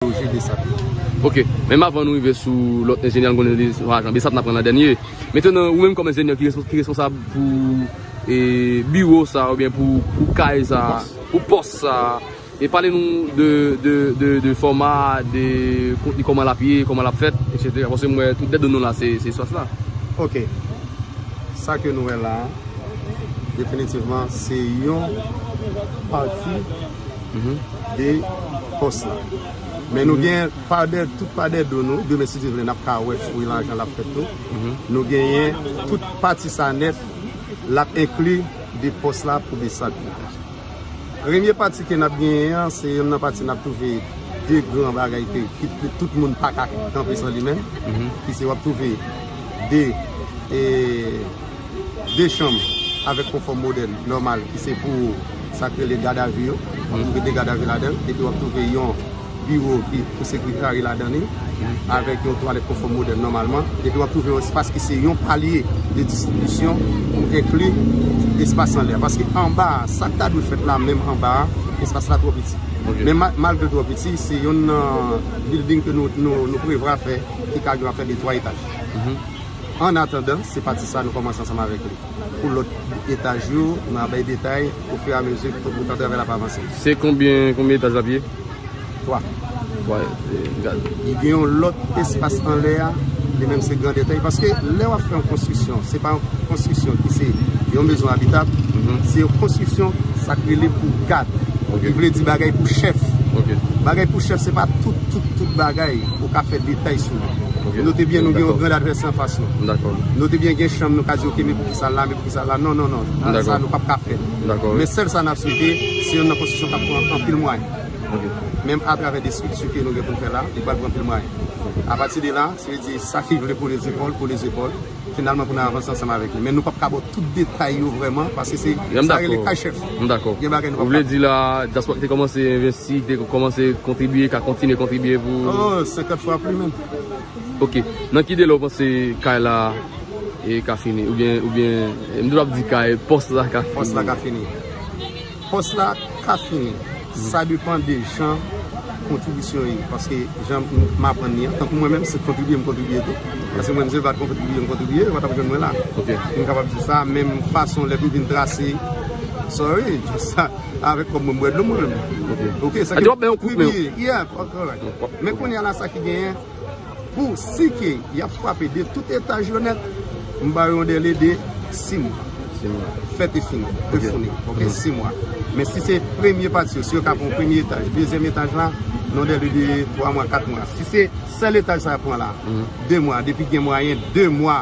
loje Besap yo. Ok, menm avan nou rive sou lòt enjenyè nou konnen li se ajan Besap n ap pran nan dènye. Metenan ou menm kòm enjenyè ki responsab pou biwo sa a oubyen pou kay sa a, pou pòs sa a, e pale nou de fòma, de kontni kòman l ap ye, kòman l ap fèt, etsetera. Paske mwen tout dèt de nou la se espas la. Ok, sa ke nou wè la a, definitivman se yon pati. de pos la men nou gen tout pa de do nou demen si Dye vle nap ka wè fwi la jan lap fèt tou nou genyen tout pati sa nèt lap enkli de pos la pou de sat la premye pati ke nap genyen an se yon nan pati nap touve de gran bagay ke tout moun pa ka kanpe san li men ki se wap touve de e 2 chanm avèk konfòm modèl nòmal ki se pou sa k rele gad a vi yo, wap twouve 2 gad a vi ladan, epi wap twouve yon biwo ki pou sekretary ladan li, avèk yon twalèt konfòm modèl nòmalman, epi wap twouve yon espas ki se yon palye de distribisyon pou enkli espas anlè a, paske anba a, sa k ta dwe fèt la menm anba a, espas la twò piti. Men malgre l twò piti, se yonn nan bilding ke nou prevwa fè ki ka gen afè de 3 etaj. An atandan, se pati sa a nou kòmanse ansanm avèk li. Pou lòt etaj yo, nou a bay detay ofiramezi pou tan travay la ap avanse. Se konbyen konbyen etaj l ap ye? 3. 3 etaj. Li gen yon lòt espas anlè a, li menm se grandèt la. E paske lè w ap fè yon konstriksyon, se pa yon konstriksyon ki se yon mezon abitab, se yon konstriksyon sa k rele pou gad. Ki vle di bagay pou chèf. Bagay pou chèf se pa tout tout tout bagay ou ka fè detay sou. Note byen nou gen yon grand advèsè anfas nou. Note byen gen chanm nou ka di ok men pou kisa l la, men pou kisa l la. Non, non, non. Sa nou pap ka fè. Men sèl sa n ap swete, se yon nan konstitisyon k ap pran anpil mwayen. Menm atravè de estrikti ke nou gen pou n fè la, li pral pran anpil mwayen. Apati de la, se vle di sa ki vle kole zepòl, kole zepòl. Finalman pou nan avanse ansanm avèk li. Men nou pap ka baw tout detay yo vrèman paske se sa rele kay chèf. M dakò. Gen bagay nou pap ka. Ou vle di la dyaspora ki te kòmanse envesti, ki te kòmanse kontribye ka kontinye kontribye pou. Oh 50 fwa pli menm. Ok. Nan ki delè ou panse kay la ka fini? Oubyen, oubyen, m toujou ap di kay, pòs la ka fini. Pòs la ka fini. Pòs la ka fini, sa depan de jan kontribisyon ye, paske jan m aprann li an, tankou mwen menm se kontribye m kontribye tou, paske mwen menm se m pa t kontribye m kontribye, ou pa t ap jwenn mwen la, m kapab di sa, men fason lè pou vin trase, sorry, sa avèk kòb mwen m bwè dlo mwen menm, ok, sa ki, men kounye a la sa ki genyen. Pou si ke yap frape de tout etaj yo nèt, m ba yo yon dele de 6 mwa. Fèt e fini. E founi. Ok, 6 mwa. Men si se premye pati yo, si yo ka pran premye etaj, dezyèm etaj la, yon dele de 3 mwa, 4 mwa. Si se sèl etaj sa yap pran la, 2 mwa. Depi gen mwayen, 2 mwa.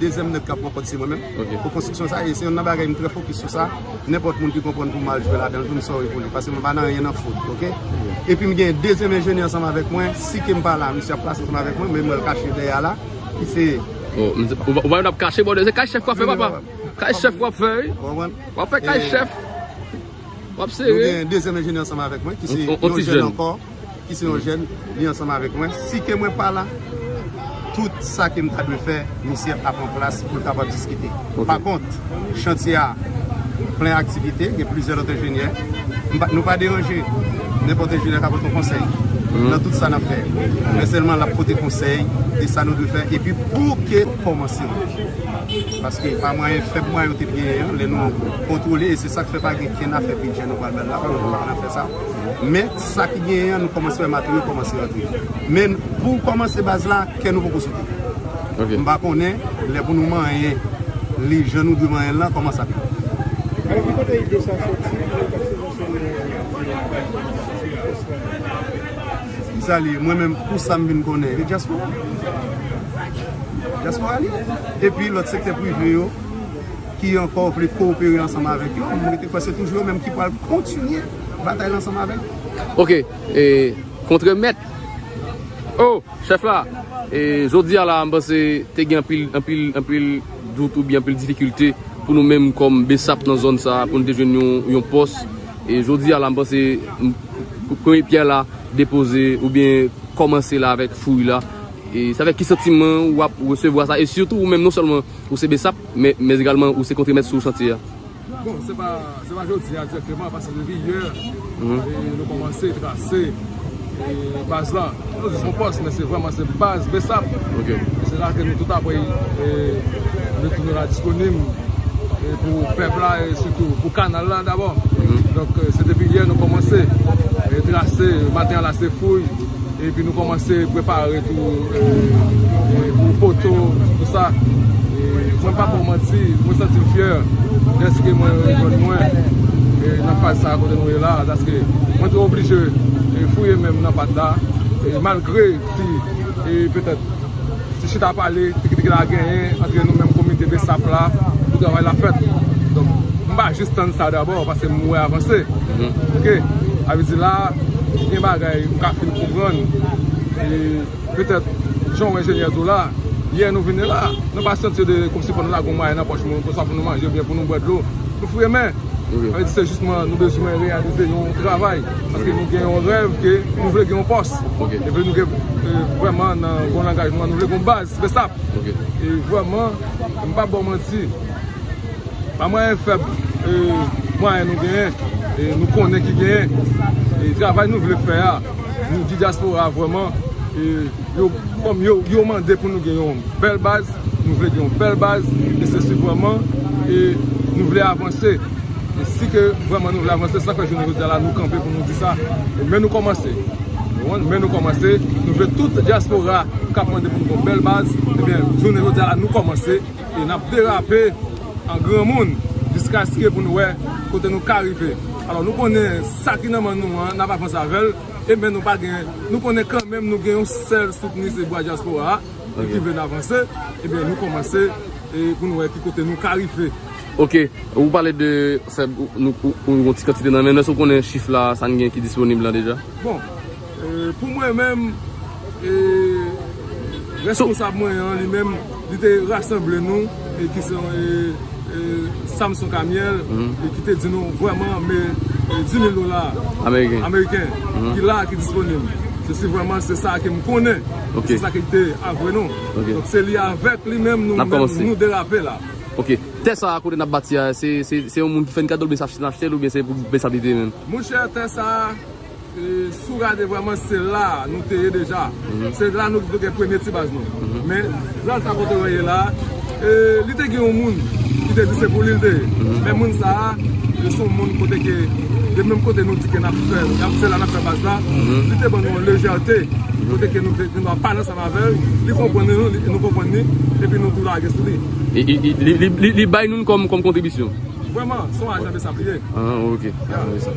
Dezyèm nèg k ap pran kòd se mwen menm pou konstriksyon sa e se youn nan bagay m trè fokis sou sa. Nenpòt moun ki konprann pou m al jwe ladan l tou m sòri pou li paske mwen pa nan anyen nan fout ok. Epi m gen dezyèm enjenyè ansanm avèk mwen si ke m pa la misye ap pase ansanm avèk mwen men m wè l kache dèyè a la ki se. O m di ou wè l ap kache bòdè se kay chèf w ap fè papa kay chèf w ap fè wi w ap fè kay chèf. Nou gen dezyèm enjenyè ansanm avèk mwen ki se yon jèn ankò, ki se yon jèn li ansanm avèk mwen. Si ke mwen pa la, tout sa ke m ta dwe fè, misye ap an plas pou l kapab diskite. Pa kont, chantye a plen aktivite, gen plizyè lòt enjenyè. Nou pa deranje nenpòt enjenyè k ap pote konsèy nan tout sa n ap fè. Men sèlman l ap pote konsèy de sa nou dwe fè epi pou ke kòmanse. Paske pa mwayen fèb mwayen yo te genyen an, lè nou kontwole. Sak fè pa gen kenn afè bidjè nou pral bay la paske nou pa konn afè sa. Men sa ki genyen an nou kòmanse wè materyèl kòmanse rantre. Men pou kòmanse baz la kè nou poko sote. M pa konnen lè pou nou manyen li jan nou dwe manyen l lan kòman sa ap ye. Alò ki kote ide sa soti pou yo ta sibvansyone diaspora pòs lan? Ki sa li ye? Mwen menm pou sa m vin konnen li diaspora. Diaspora li ye. Epi lòt sektè prive yo. ki ankò vle kowopere ansanm avèk yo, m rete kwè se toujou yo menm ki pral kontinye batay la ansanm avèk yo. Ok, e kontre mèt. Oh! Chèf la, e jodi a la m panse te gen anpil, anpil, anpil dout oubyen anpil difikilte pou nou menm kòm bsap nan zòn sa a pou nou te jwenn yon, yon pòs. E jodi a la m panse premye pyè la depoze oubyen kòmanse la avèk fouy la. E se avèk ki santiman ou ap resevwa sa? E sitou ou menm non sèlman ou se bsap. Men egalman ou se kontremèt sou chantye a. Bon, se pa jodi a direkteman, pase depi yè nou kòmanse trase baz la. Nou di son pòs, men se vwèman se baz Bsap. Se la ke nou tout apre nou tounen la disponib pou pèp la e sitou pou kanal la dabò. Donk se depi yè nou kòmanse trase, maten an la se fouy. Epi nou komanse prepare tou pou foto tout sa. Mwen pa bon manti, mwen santi m fyè dèske mwen jwenn mwen nan faz sa kote nou ye la. Dèske mwen te oblije fouye men m nan pat la malgre si petèt. Ti chita pale, piki piki la genyen antre nou menm komite bsap la pou travay la fèt. Donk, m pa jis tann sa dabò paske m wè avanse. Ok. Sa vle di la, gen bagay m ka fin konprann e petèt jan w wè enjenyè di w la, yè nou vini la, nou pa santi de kòmsi fò nou lage yon mwayen nan pòch nou oswa pou nou manje oubyen pou nou bwè dlo. Nou fouye men. Alèkile se jisman nou bezwen reyalize yon travay, paske nou gen yon rèv ke nou vle gen yon pòs. Epi nou gen vwèman nan bon langaj nou an nou vle gen yon baz Bsap. E vwèman m pap ba w manti, pa mwayen fèb mwayen nou genyen e nou konnen ki genyen e travay nou vle fè a, nou di dyaspora vwèman e yo kòm yo mande pou nou gen yon bèl baz. Nou vle gen yon bèl baz e se si vwèman e nou vle avanse. E si ke vwèman nou vle avanse, sa fè jounen jodia la nou kanpe pou nou di sa. Men nou kòmanse. Men nou kòmanse. Nou vle tout diaspora kap mande pou nou gen yon bèl baz. Ebyen, jounen jodia la nou kòmanse. E nap derape an granmoun jiskaske pou nou wè kote nou ka rive. Alò nou konnen sa ki nan men nou an, nap avanse avèl. E men nou pa gen, nou konnen kanmenm nou gen yon sèl soutni se bwa diaspora a. Nou ki vle n avanse, ebyen nou kòmanse pou nou wè ki kote nou ka rive. Ok, ou pale de fè yon ti kantite nan men, men sou konnen chif la sa n gen ki disponib la deja? Bon, pou mwen menm, responsab mwen an li menm, li te rasanble nou. ki se yon Samson Camille ki te di nou vwèman me 10.000 dola ameriken ki la ki disponib se si vwèman se sa ke m konnen se sa ki te avwe nou se li avèk li menm nou derape la ok, tè sa kote n ap bati a se yon moun ki fè n kado l oubyen se achte l oubyen se pou bsap li te menm mouche tè sa Si w gade vrèman se la nou te ye deja. Se la nou gen premye ti baz nou. Men plas la kote mwen ye la, li te gen yon moun ki te di se pou li l te ye. Men moun sa a, se yon moun kote ke de menm kote nou di ke n ap fè, se la n ap fè baz la, li te ban nou yon lejète kote ke nou gen dwa pale ansanm avè l, li konprann nou, nou konprann li, epi nou tou lage sou li. Li bay nou l kòm kontribisyon? Vrèman, se yon ajan besap li ye. Ah ok, ajan besap.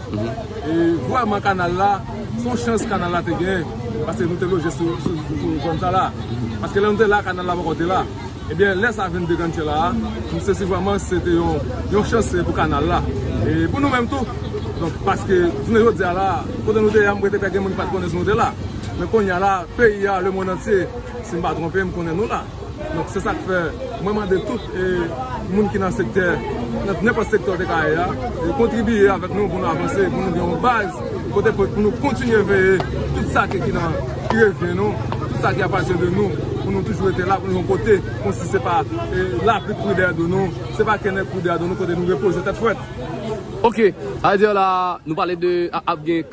Vwaman kanal la, se yon chans kanal la te gen, paske nou te loje sou zòn sa la. Paske lè nou te la, kanal la poko te la. Ebyen, lè sa vin degantyè la a, nou sezi vwaman se te yon chans pou kanal la. E pou nou menm tou. Donk, paske, jounen jodi a la, kote nou te a, mwen kwè te ka gen moun ki pa te konnen si nou te la. Men kounye a la, peyi a, lemonn antye, si m pa twonpe m, konnen nou la. Donk se sak fè mwen mande tout moun ki nan sektè, nan nenpòt sektè ou te ka ye a, kontribiye avèk nou pou nou avanse, pou nou gen yon baz kote pou nou kontinye veye tout sa ki nan revyen nou, tout sa ki apati de nou, pou nou toujou rete la, pou nou yon kote, kon si se pa lapli kou dèyè do nou, se pa kenèk kou dèyè do nou, kote nou repoze tèt frèt. Ok, sa vle di la, nou pale de ap gen.